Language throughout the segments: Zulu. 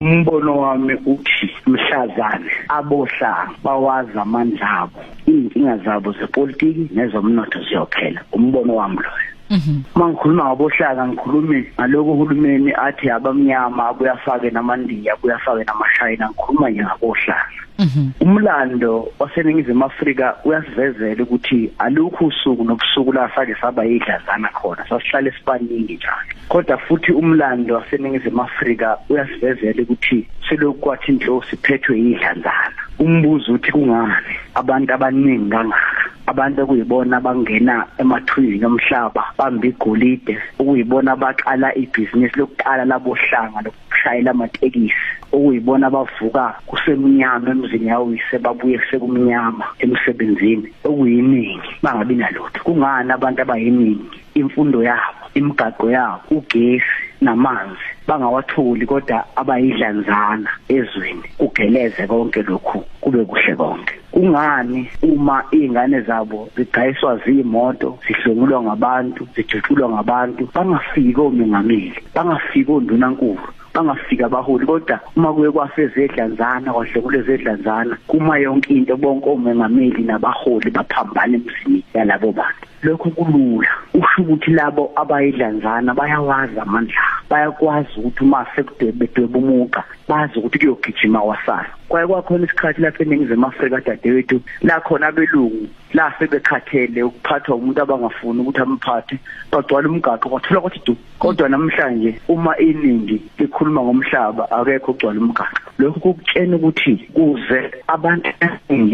umbono wami uthi mhlazane abohlanga bawazi amandla abo izinkinga zabo zepolitiki nezomnotho ziyophela umbono wami loyo Mhm. Mangikhuluma ngabohlaka ngikhulume ngaloko uhulumeni athi abamnyama abuyafake namandiya abuyafake namashayina ngikhuluma nje ngabohlaka. Mhm. umlando waseningizimu Afrika uyasivezela ukuthi alukho usuku nobusuku la sake saba idlazana khona sasihlala esibaningi njalo kodwa futhi umlando waseningizimu Afrika uyasivezela ukuthi selokhu kwathi inhlosi phethwe idlazana umbuzo uthi kungani abantu abaningi kangaka abantu okuyibona abangena emathunjini omhlaba bamba igolide okuyibona abaqala ibhizinisi lokuqala labohlanga shayela amatekisi okuyibona abavuka kusemnyama emzini yawise babuye sekumnyama emsebenzini okuyiningi bangabi nalutho kungani abantu abayiningi imfundo yabo imigaqo yabo ugesi namanzi bangawatholi kodwa abayidlanzana ezweni kugeleze konke lokhu kube kuhle konke kungani uma izingane zabo zigayiswa zimoto sihlungulwa ngabantu zijutshulwa ngabantu bangafiki omengameli bangafiki ondunankulu bangafika abaholi kodwa uma kuye kwasezedlanzana kwahlekule zedlanzana kuma yonke into bonke omengameli nabaholi baphambana emzini yalabo bantu lokho kulula usho ukuthi labo abayidlanzana bayawazi amandla bayakwazi ukuthi uma sekudwebedweba umuqa bazi ukuthi kuyogijima wasana kwaye kwakhona isikhathi lapha eningizimu afrika dadewethu la khona abelungu la sebekhathele ukuphathwa umuntu abangafuni ukuthi amphathe bagcwala umgaqo kwathola ukuthi du kodwa namhlanje uma iningi likhuluma ngomhlaba akekho ugcwala umgaqo lokhu kukutshena ukuthi kuze abantu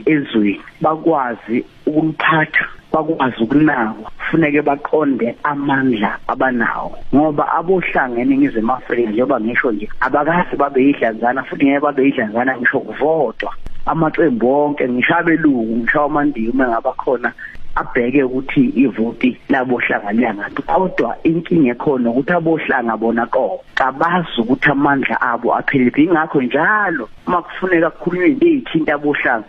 ezweni bakwazi ukumphatha bakwazi ukunakwa kufuneke baqonde amandla abanawo ngoba abohlanga eningizimu afrika njengoba ngisho nje abakazi babe yidlanzana futhi ngeke babe yidlanzana ngisho kuvodwa amaqembu onke ngisho abelungu ngisho amandiya uma ngaba khona abheke ukuthi ivoti labohlanga liyangaphi kodwa inkinga ekhona ukuthi abohlanga bona qo kabazi ukuthi amandla abo apheliphi ingakho njalo uma kufuneka kukhulunywe into eyithinta abohlanga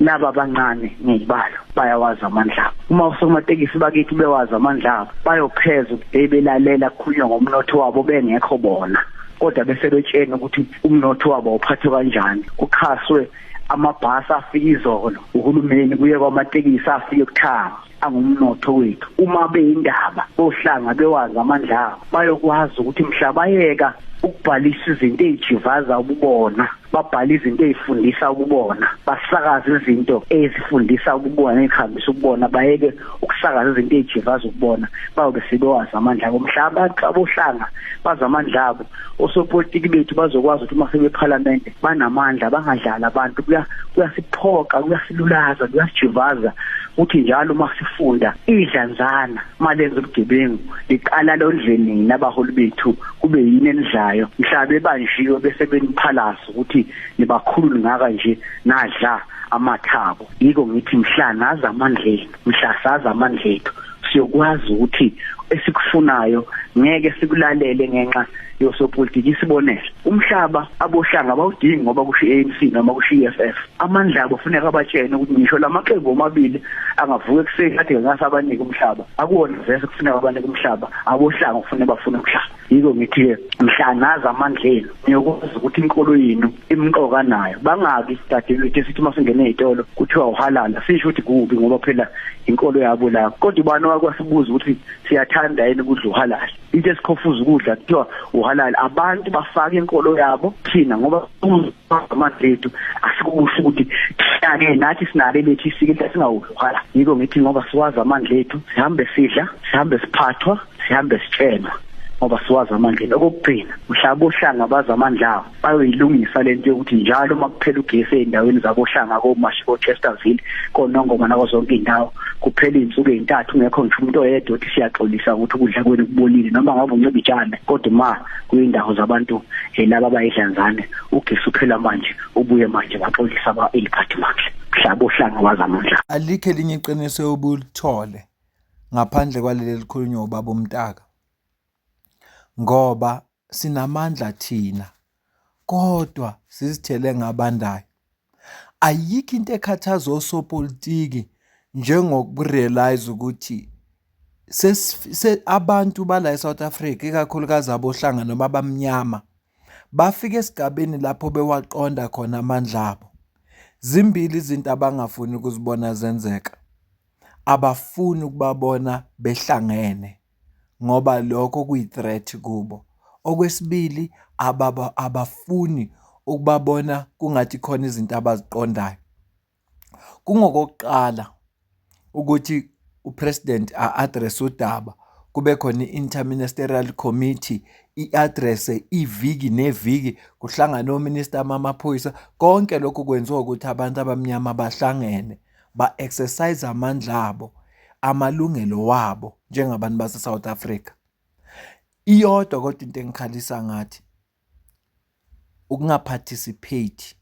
laba abancane ngiyibalo bayawazi amandla abo uma usomatekisi bakithi bewazi amandla abo bayopheza ukuthi belalela kukhulunywa ngomnotho wabo bengekho bona kodwa bese betshena ukuthi umnotho wabo uphathwe kanjani kuxhaswe amabhasi afika izolo uhulumeni kuye kwamatekisi afike kuthanga angumnotho wethu uma beyindaba bohlanga bewazi amandla abo bayokwazi ukuthi mhla bayeka ukubhalisa izinto ezijivaza ububona babhala izinto ezifundisa ububona basakaza izinto ezifundisa ububona ezihambisa ububona bayeke ukusakaza izinto ezijivaza ububona bayobe sebewazi amandla abo mhlaba xa bohlanga bazi amandla abo osopolitiki bethu bazokwazi ukuthi uma sebephalamende banamandla bangadlali abantu kuyasiphoqa kuyasilulaza kuyasijivaza ukuthi njalo uma sifunda idlanzana uma lenza ubugebengu liqala londleni nina abaholi bethu kube yini enidlayo mhla bebanjiwe bese beniphalasa ukuthi nibakhulu ningaka nje nadla amathabo yiko ngithi mhla nazi amandleni mhla sazi amandla ethu siyokwazi ukuthi esikufunayo ngeke sikulalele ngenxa yosopolitiki isibonelo umhlaba abohlanga bawudingi ngoba kusho ANC noma kusho EFF amandla abo funeka abatshene ukuthi ngisho lamaqembu omabili angavuka ekuseni athi ngasabanike umhlaba akuwona vese kufuneka abanike umhlaba abohlanga kufanele bafune umhlaba yiko ngithi mhla nazi amandla enu niyokwazi ukuthi inkolo yenu imqoka nayo bangaki dadewethu esithi uma singene ezitolo kuthiwa uhalala sisho ukuthi kubi ngoba phela inkolo yabo la kodwa ubani wakwasibuza ukuthi siyathanda yini ukudla uhalala into esikhofuza ukudla kuthiwa uhalala abantu bafaka inkolo yabo thina ngoba amazethu asikusho ukuthi thina-ke nathi sinale lethu isike into esingawuvala yiko ngithi ngoba siwazi amandla ethu sihambe sidla sihambe siphathwa sihambe sitshema ngoba siwazi amandla ethu okokugcina mhla bohlanga bazi amandla awo bayoyilungisa le nto yokuthi njalo uma kuphela ugesi ey'ndaweni zabohlanga komashi kochesterville konongoma nako zonke iy'ndawo kuphela iy'nsuku ey'ntathu ngekho ngisho umuntu oyedwa othi siyaxolisa ukuthi ukudla kwenu kubolile noma ngabe unciba itshane kodwa uma kwindawo zabantu eh, laba bayidlanzane ugesi uphela manje ubuye manje baxolisa ba eliphathi manje mhlaba ohlanga wazamandla alikhe linye iqiniso obulithole ngaphandle kwaleli likhulunywa ubaba umtaka ngoba sinamandla thina kodwa sizithele ngabandayo Ayikho into ekhathaza osopolitiki njengoku-realise ukuthi abantu bala e-South Africa, ikakhulukazi aboHlanga noma abamnyama, bafike esigabeni lapho bewaqonda khona amandla abo. Zimbili izinto abangafuni ukuzibona zenzeka, abafuni ukubabona behlangene. ngoba lokho kuyi-threat kubo. Okwesibili, abafuni ukubabona kungathi khona izinto abaziqondayo. Kungokokuqala ukuthi u-president a-address-e udaba, kube khona i-interministerial committee i-address-e iviki neviki, kuhlangane ominista bamaphoyisa, konke lokhu kwenziwa ukuthi abantu abamnyama bahlangene. ba-exercise amandla abo, amalungelo wabo njengabantu base-South Africa. Iyodwa kodwa into engikhalisa ngathi ukungaparticipate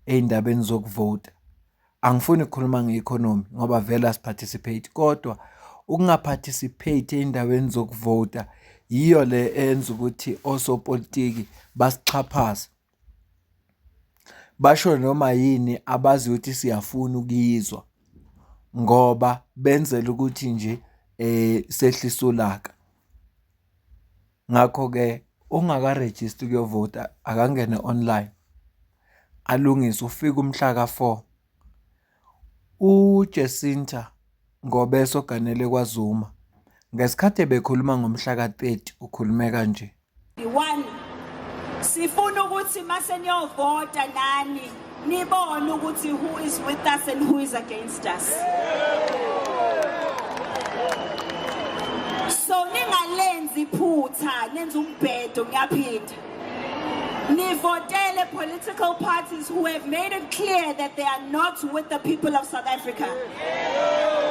ey'ndabeni zokuvota. Angifuni ukukhuluma nge-economy ngoba vele asiparticipate kodwa ukungaparticipate ey'ndaweni zokuvota yiyo le enza ukuthi osopolitiki basixhaphaze. Basho noma yini abazi ukuthi siyafuna ukuyizwa ngoba benzela ukuthi nje sehlise ulaka. Ngakho-ke ongakarejisti ukuyovota akangene online alungise ufike umhla ka-four. UJacinta Ngobeso oganele kwaZuma ngesikhathi ebekhuluma ngomhla ka-thirty ukhulume kanje. One sifuna ukuthi mase niyovota nani nibone ukuthi who is with us and who is against us so ningalenzi iphutha nenza umbhedo ngiyaphinda nivotele political parties who have made it clear that they are not with the people of South Africa yeah.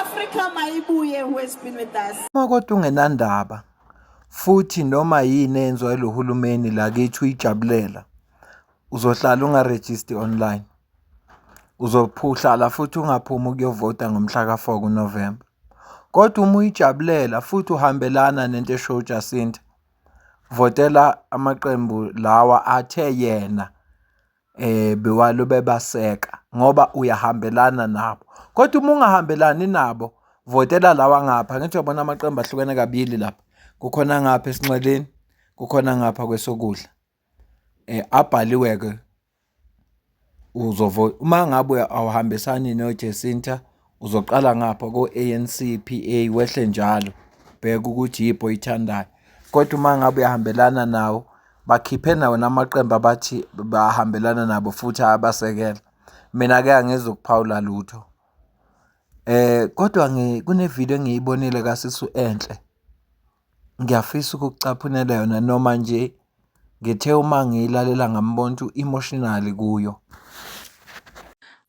Africa mayibuye who has been with us. Makodwa ungenandaba futhi noma yini enziwa lo hulumeni lakithi uyijabulela uzohlala ungaregister online uzophuhlala futhi ungaphumi ukuyovota ngomhla ka-4 kuNovember kodwa uma uyijabulela futhi uhambelana nento esho uJacinta votela amaqembu lawa athe yena bewalokhu bebaseka ngoba uyahambelana nabo. Kodwa uma ungahambelani nabo, votela lawa angapha. Angithi uyabona amaqembu ahlukene kabili lapha, kukhona angapha esinxeleni, kukhona angapha kwesokudla. Abhaliwe-ke, uma ngabe awuhambisani noJesinta. Uzoqala ngapha ko-ANC, PA, wehle njalo bheka ukuthi yiphi oyithandayo. Kodwa uma ngabe uyahambelana nawo bakhiphe nawo namaqembu abathi bahambelana nabo futhi abasekela. Mina-ke angizukuphawula lutho. Eh kodwa kunevidiyo engiyibonile kaSisu Enhle. ngiyafisa ukucaphunela yona noma nje ngithe uma ngiyilalela ngambona ukuthi u-emotional kuyo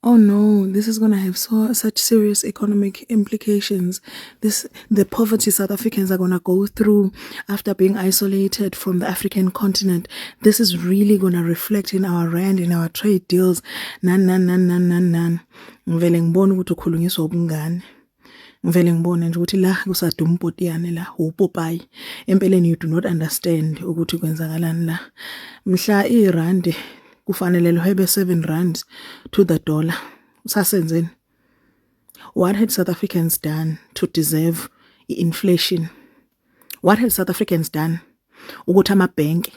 oh no, this is going to have so such serious economic implications. This the poverty South Africans are going to go through after being isolated from the African continent. This is really going to reflect in our rand in our trade deals. Nan nan nan nan nan nan. Ngivele ngibona ukuthi ukhulunyiswa ubungane. ngivele ngibone nje ukuthi la kusaduma upotiyane la upopayi empeleni you do not understand ukuthi kwenzakalani la mhla irandi kufanele lihwebe 7 rand to the dollar usasenzeni what had south africans done to deserve i-inflation what had south africans done ukuthi amabhenki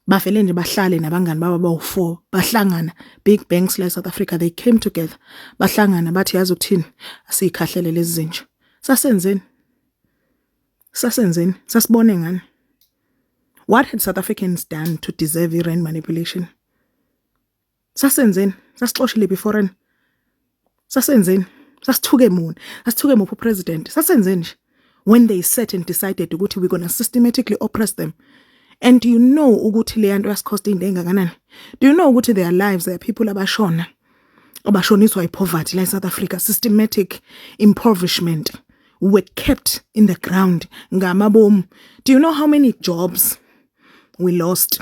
bavele nje bahlale nabangani baba bawu-four bahlangana big banks la e-south africa they came together bahlangana bathi yazi ukuthini asiyikhahlele lezi zinja sasenzeni sasenzeni sasibone ngani what had south africans done to deserve i-rand manipulation Sasenzeni? Sasixoshile beforeni. Sasenzeni? Sasithuke muni? Sasithuke muphi upresident? Sasenzeni nje? When they sat and decided ukuthi we gonna systematically oppress them. And do you know ukuthi le yanto yasikhosta into engakanani? Do you know ukuthi their lives their people abashona? Abashoniswa ipoverty la South Africa systematic impoverishment were kept in the ground ngamabomu. Do you know how many jobs we lost?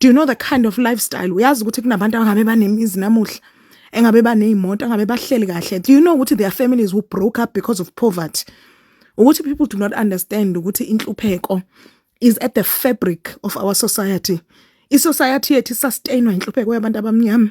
do you know the kind of lifestyle uyazi ukuthi kunabantu angabe banemizi namuhla engabe baneyimoto angabe bahleli kahle do you know ukuthi their families who broke up because of poverty ukuthi people do not understand ukuthi inhlupheko is at the fabric of our society isociety yethu sustainwa inhlupheko yabantu abamnyama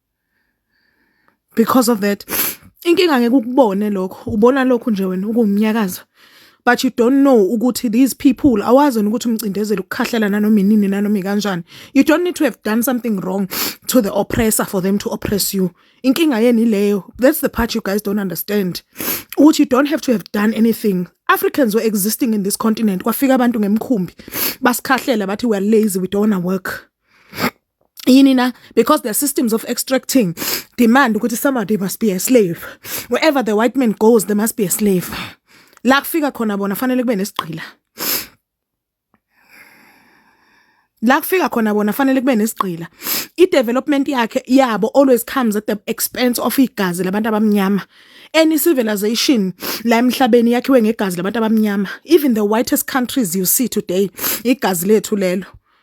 because of that inkinga ngeke ukubone lokho ubona lokho nje wena ukumnyakaza but you don't know ukuthi these people awazi ukuthi umcindezeli ukukhahlela nanoma inini nanoma ikanjani you don't need to have done something wrong to the oppressor for them to oppress you inkinga yeni leyo that's the part you guys don't understand ukuthi you don't have to have done anything Africans were existing in this continent kwafika abantu ngemkhumbi basikhahlela bathi we are lazy we don't want to work yini na because the systems of extracting demand ukuthi somebody must be a slave wherever the white man goes there must be a slave la kufika khona bona fanele kube nesigqila la kufika khona bona fanele kube nesigqila i-development yakhe yabo always comes at the expense of igazi labantu abamnyama any civilization la emhlabeni yakhiwe ngegazi labantu abamnyama even the whitest countries you see today igazi lethu lelo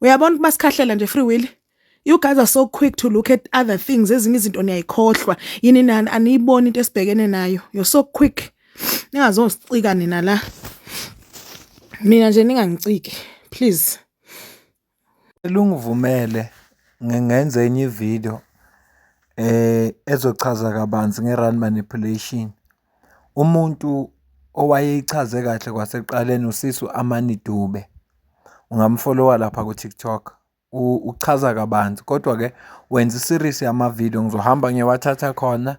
uyabona ukuba sikhahlela nje free will you guys are so quick to look at other things ezinye izinto niyayikhohlwa yini nani aniyiboni into esibhekene nayo you're so quick ningazosicika nina la mina nje ningangiciki please lungivumele ngenze enye ividiyo eh ezochaza kabanzi nge-run manipulation Umuntu owayeyichaze kahle kwasekuqaleni usisi u-Amani Dube. Ungamu-follow-a lapha ku-TikTok. Uchaza kabanzi kodwa-ke wenza i-series yamavidiyo. Ngizohamba ngiyowathatha khona,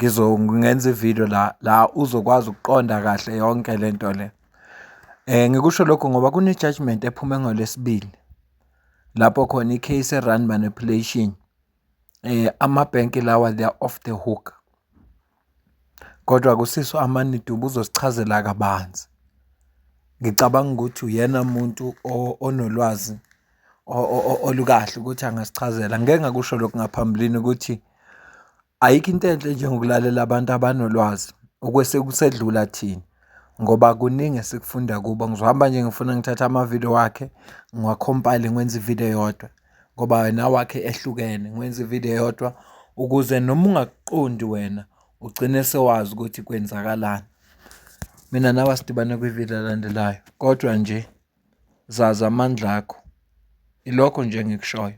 ngenze ividiyo la la uzokwazi ukuqonda kahle yonke le nto le. Ngikusho lokhu ngoba kune-judgement ephume ngoLwesibili lapho khona i-case e-run manipulation Amabhenki lawa they are off the hook. Kodwa kusiso aManedi ubuzosichazela kabanzi. Ngicabanga ukuthi uyena muntu onolwazi olukahle ukuthi angasichazela. Ngike ngakusho lokhu ngaphambilini ukuthi ayikho into enhle njengokulalela abantu abanolwazi okwese kusedlula thina ngoba kuningi esikufunda kubo. Ngizohamba nje ngifuna ngithathe amavidiyo wakhe ngiwakhomphayile ngwenze ividiyo eyodwa. ngoba wena wakhe ehlukene ngiwenza ivideo eyodwa ukuze noma ungakuqondi wena ugcine sewazi ukuthi kwenzakalani mina nawe asidibane kwivideo elandelayo kodwa nje zazi amandla akho ilokho nje engikushoyo